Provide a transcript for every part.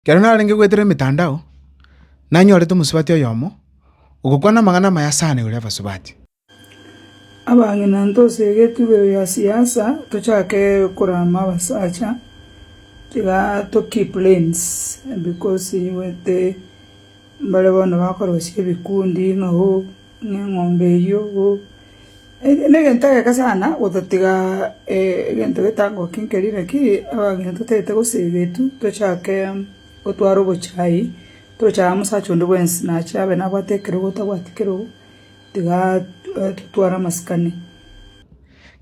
Ekero narenge goetera emetandao, nanyorete omosubati oyomo ogokwana amang'ana amaya ase aane ore abasubati. Abang'ina ntose egetubero gia siasa tochake korama abasacha tiga to keep lanes because nigo ete mbare bono bakorwa ase ebikundi ng'a hoo Neng'ombe eyio oo, negento egeke sana gototiga egento getangokia nkeria naki abageni totagete gose egetu tochake gotwara obochai tocha amo mosacha onde bwensi nache abe nabwate ekerogo tabwati kerogo tiga totware amasikani.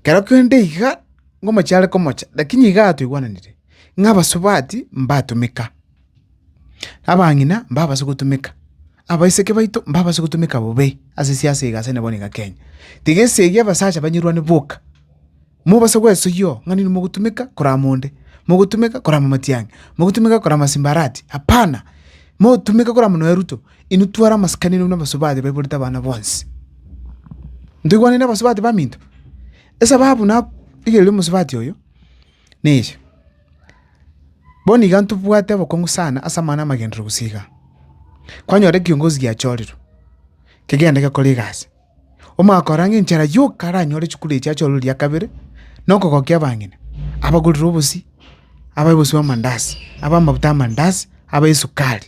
Ekero kende iga ngomochie are komocha, lakini iga toigwananire ng'a abasubati mbatumeka. Abang'ina mbabase gotumeka, abaiseke baito mbabase gotumeka bobe ase siasa iga ase bono iga Kenya. Tiga esegi abasacha banyerwane boka, mobase gwesoyio ng'a ninwe mogotumeka korama onde, mogotumeka korama Matiang'i, mogotumeka korama Simbarati, hapana, motumeke korama nonya Ruto, inwe twara amasikani inwe buna abasubati baiborete abana bonsi. Ntoigwani na abasubati baminto? Esababu na iga erio omosubati oyo. neyio. Bono iga ntobwate obokong'u sana ase amang'ana amagenderero gose igaa. Kwanyora ekiongozi giachorirwe, kegende gekore egasi, omanye korora ng'a enchera yoka aranyore chikura echi achorwe riria kabere, na okogokia abang'ina, abagorere obosii, abae obosii bwa amandazi, abae amabuta y'amandazi, abae esukari.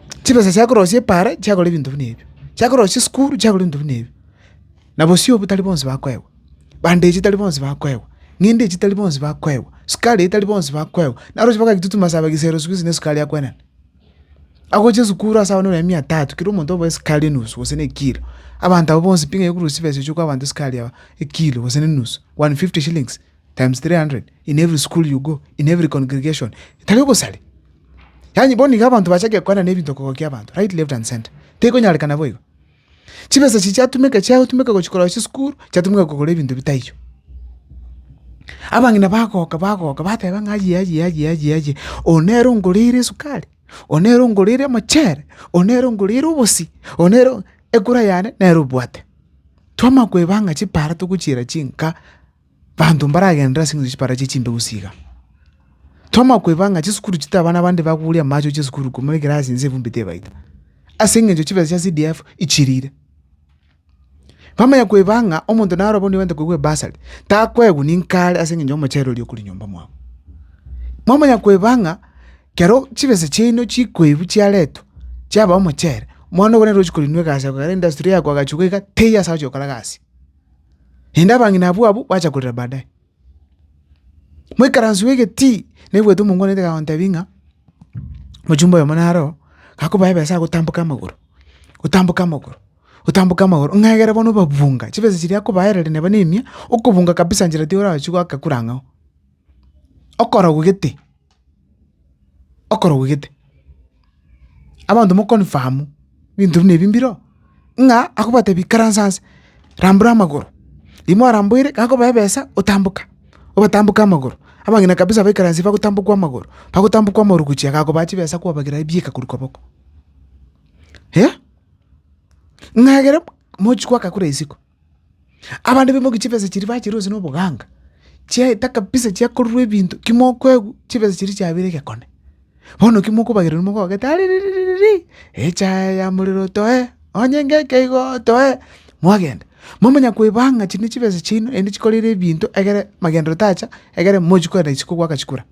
chibesa chia korosia epaara chiagora ebinto buna ebio, chia korosia esukuru chiagora ebinto buna ebio. Na bosio obo tari bonsi bakoegwa, bandeji tari bonsi bakoegwa, ng'inda echi tari bonsi bakoegwa, sukari eye tari bonsi bakoegwa, naro ochi mpaka agitutu masaba gisero siku hizi na esukari akwenana. Agochia esukuru ase abana nonya mia tatu, kera omonto oboe esukari enusu gose na ekilo. Abanto abwo bonsi pi ng'ai okorusia chibesa echio okoa abanto esukari aba ekilo gose na enusu, one fifty shillings, times three hundred in every school you go, in every congregation, tari obosare. Yaani bono iga abanto bachake kwana na ebinto kogokia abanto right left and center. Tekonyarekana boigo. Chibesa echi chiatumeka chiatumeka gochi korora chisukuru, chiatumeka kogora ebinto bitaiyo. Abang'ina bagoka bagoka bateba ng'a aye aye aye aye aye oyo nere ongoreire esukari, oyo nere ongoreire omochere, oyo nere ongoreire obosi, oyo nere ekura yane nere obwate. Twamanya koeba ng'a chipara togochiera chinka. Banto mbaragenderere ase eng'encho chipara chie chimbegu chiiga. Twamanya koeba ng'a chisukuru chitari abana bande bakoruria amache chisukuru korwa muri ekerasi inse evumbi tebaita, ase eng'encho chibesa chia CDF ichirire. Bamanya koeba ng'a omonto naro abwo nigo abate koigwa ebasari, takoegwa ninka are ase eng'encho y'omochere oria okoria nyomba mwabo. Mwamanya koeba ng'a kero chibesa chiaino chikoebu chiaretwa chiaba omochere, omwana obo nere ochi korinwa egasi agokora industry yako agachuka iga teiyo ase agochia gokora egasi. Naende abang'ina abwo abwo bacha korera baadaye. Moikaransu y'egetii naigwete omong'wanete kagontebia ng'a omochumba oyomo naro oo gakoboa ebesa agotamboka amagoro, otamboke amagoro, otamboke amagoro ng'a egere bono obabunga chibesa chiria akobaerera neba na emia, okobunga kabisa nchera tiyorachie goaka kure ang'ao, okorogwa gete. okorogwa gete. Abanto mo confirm ebinto buna ebi mbiro, ng'a akobatebi ikaransa nse, rambura amagoro, riria mwaramboire gakobae ebesa otamboka, obatamboke amagoro, abang'ina kabisa baikaransie bagotambokwa amagoro, bagotambokwa amagoro gochia iga akoba chibesa kwabagira ebieka korwa koboko. Ng'a egere mochie goaka kore isiko. Abande bemokia chibesa chiria bachirwa gose na oboganga, chiaeta kabisa chiakorerwa ebinto ki mokoegwa chibesa chiria chiabeire egekone. Bono ki mokobagerera rimo mogogete aririririri, echae ya morero toe, onye ngeke igo toe, mwagenda. Momanya koeba ng'a chiri ne chibesa chiaino naende chikoreire ebinto egere magenderero tacha egere mochi kogenda gose kogoaka chikura.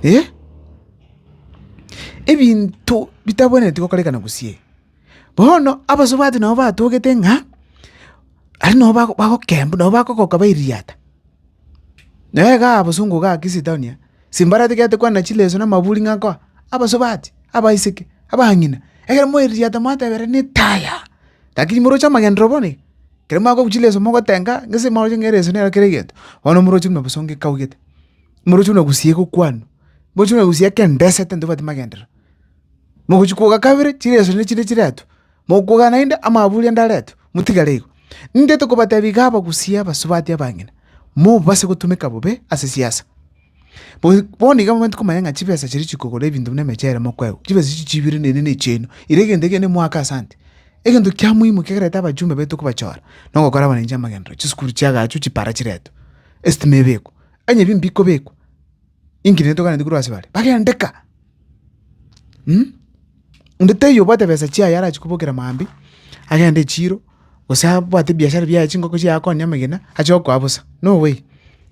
Eeh, ebinto bitabwenereti gokorekana gose. Bono abasubati nabo batogete ng'a aria nabo bago bagokembu nabo bagokoka bairigiata. Naye iga abasungu iga Kisi town aa, simbareti gete kwana chileso na amaburi ng'a nkoa, abasubati, abaiseke, abang'ina, ekero mwairigiata mwatebereni taya, lakini moroche amagenderero bono iga, ekero mwakorwa chileso mogotenga gese mwaroche ng'a ereso nero kera egento, bono moroche buna bosa ongekaugete, moroche buna gusii egokwanwa, moroche buna gusii ekero ndesete ntobwati magenderero. Mogochia kwoga kabere, chiresoria nichinde chiretwe, mokwoga naende, amaburi ande aretwe, motigare igo. Ningete kobatebia iga abagusii abasubati abang'ina, mobase gotumeka bobe ase siasa. Bono bono iga momanyete komanya ng'a chibesa chiria chikogora ebinto buna emechere mokoegwa, chibesa echi chiibire neende na echiaino. Ere egento ekio nemoake asante. Egento kia muhimu kegerete abachumba baito kobachora, nogokora abananchi amagenderero, chisukuru chiagaachwe, chipara chiretwe, esitima ebekwe, onye bimbe bikobekwa. Inki netoganeti korwa ase bare? Bagendeka! Onde taiyo obwate besa chiaye arachie kobokera mambia, agende echiro, gose abwate ebiashara biaye chingoko chiaye akonye amagena, ache gokoa bosa. No way!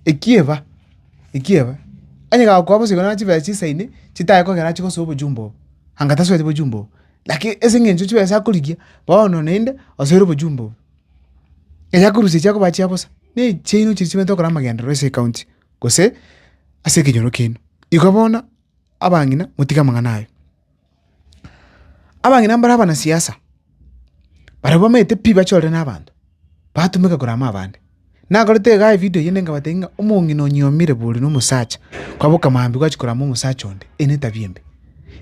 Ekia eba, ekia eba. Onye gakoa bosa igoro naro chibesa chisaine, chitaye kogera achie gosoa obochumba obo, anga tasoete bochumba obo. Laki ase eng'encho chibesa akorigia, bono naende osoire obochumba obo. Eyakorusia echi akoba chia bosa, na echiaino chiria chiaito okora amagenderero ase ecounty. gose ase ekenyoro kiaino. Igo bono abang'ina motige amang'ana aye. Abang'ina mbare abanasiasa, baria bamaete pi bachorire na abanto, batumeka korwa amo abande. Nakorete iga evidio eyende nkabatebi ng'a omong'ina onyomire bori na omosacha, kwaboka maambia gwachia korwa amo omosacha onde, eye ne etabia embe.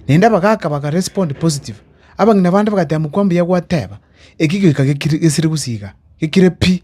Naende abagaka baka respond positive, abang'ina bande bagateba mokwo mbuya gwateba, eki gigoika gekire gesire gose iga, gekire pi.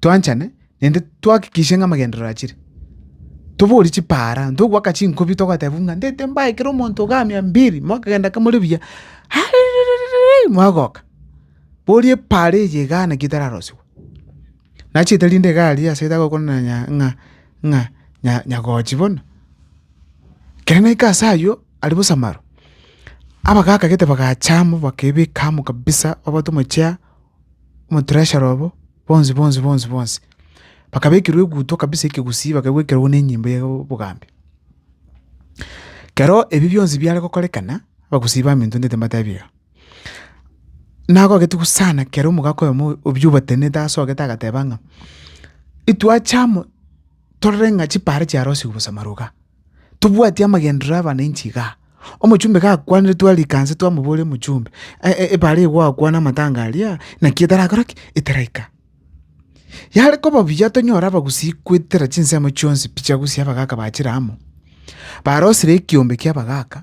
twanchane, naende twahakikishe ng'a amagenderero achire. Toborie chipaara, togoaka chinkobi togateba buna ndete mbae ekero omonto iga mia mbiri, mwakagenda ake more buya ariririririri mwagoka. Boria epaara eye igaa naki etararosiwa. Nachete rinde iga aria ase etagokwana ng'a- ng'a- ng'a nya- nyagochi bono. Ekero naika ase aywo, aria bosa maro, abagaka gete bagacha amo bakebeka amo kabisa babatua omochie omo treasurer obo. bonsi bonsi bonsi bonsi, bakabekerwa eguto kabisa ekegusii bakagwekerwa nenyimbo ya obogambi. Kero ebi bionsi biare gokorekana, abagusii ba minto ndete mbatebiga, nagogete gusana kero omogaka oyomo obi obatenenete ase ogete agateba ng'a, etwache amo. Torora ng'a chipaara chiarosigwe bosama ruga. Tobwati amagenderero abananchi igaa. Omochumbe gakwanire twarika nse twamoboria omochumbe, epaara eye gwakwana amatanga aria, naki etarakora ki? Etaraika. Yare koba buya tonyore abagusii goetera chinsemo chionsi pi chiagusia abagaka bachire amo, barosire ekiombe ki'abagaka,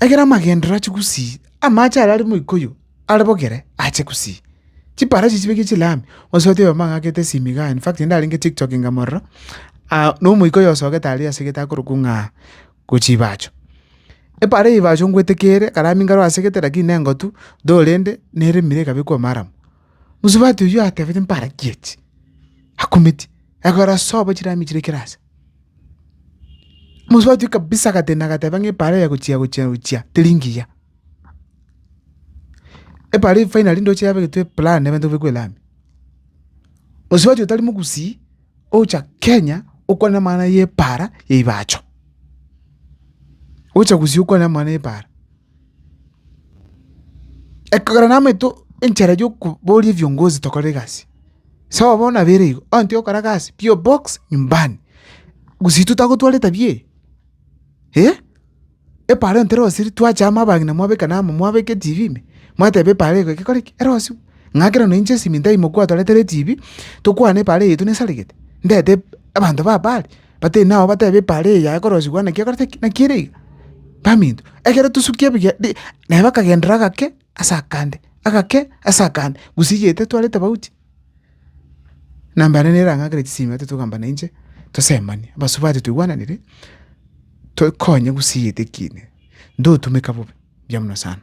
Ekero amagenderero achia gusii, amache aria are moikoyo are bogere ache gusii. Chiparachi chibekie chilami, gose otebe aye mbang'akete esimi igaa, in fact naende narenge tiktok inga mororo, na omoika oyo osogete aria asegete akorokwa ng'aa gochia chibacho. Epara ya ebacho ngwetekeire, akarami nkaro asegete lakini nengotu, though rende neremire ekabekwa amaramu. Mosubati oyio atebete mparakie echi, akumeti, ekero asoa bo chilami chire kera ase. Omosuba ochia kabisa agatenena agateba ng'a epaara eye gochia gochia gochia teri ngiya. Epaara eye finally ndoche yabegetwe plan nebanto babekwe lami. Omosuba ochia otari mogusii, ogocha Kenya okwane amang'ana y'epaara ya ebacho. Ogocha gusii okwane amang'ana y'epaara. Ekogera namaete enchera yokoboria ebiongozi tokore egasi, sawa bono nabere igo, onye togokora egasi pi obox nyumbani, gose intwe tagotwara etabia eye eh, epara ntera osirie twacha amo abagima mwabeka namo mwabeka etibi ime, mwateba epara ego egekore ki? Ero osiwe, ng'a ekero noinche esimi ntaimoke gwatoretera etibi, tokwane epara eye yaito nesaregete, ndete abanto baba are. Batebi nao batebe epaara eye yaye korosigwa naki ekorete ki? Naki ere iga. Baminto, ekero tosukia ebiya bi- naye bakagenderera agake ase akande, agake ase akande, gusiyete tware tofauti. Na mbare nere arang'akere chisimete togamba nainche, tosemanie, abasubati toigwananire, tokonye gusiyete ekiine, ntotumeka bobe, mbuya mono sana.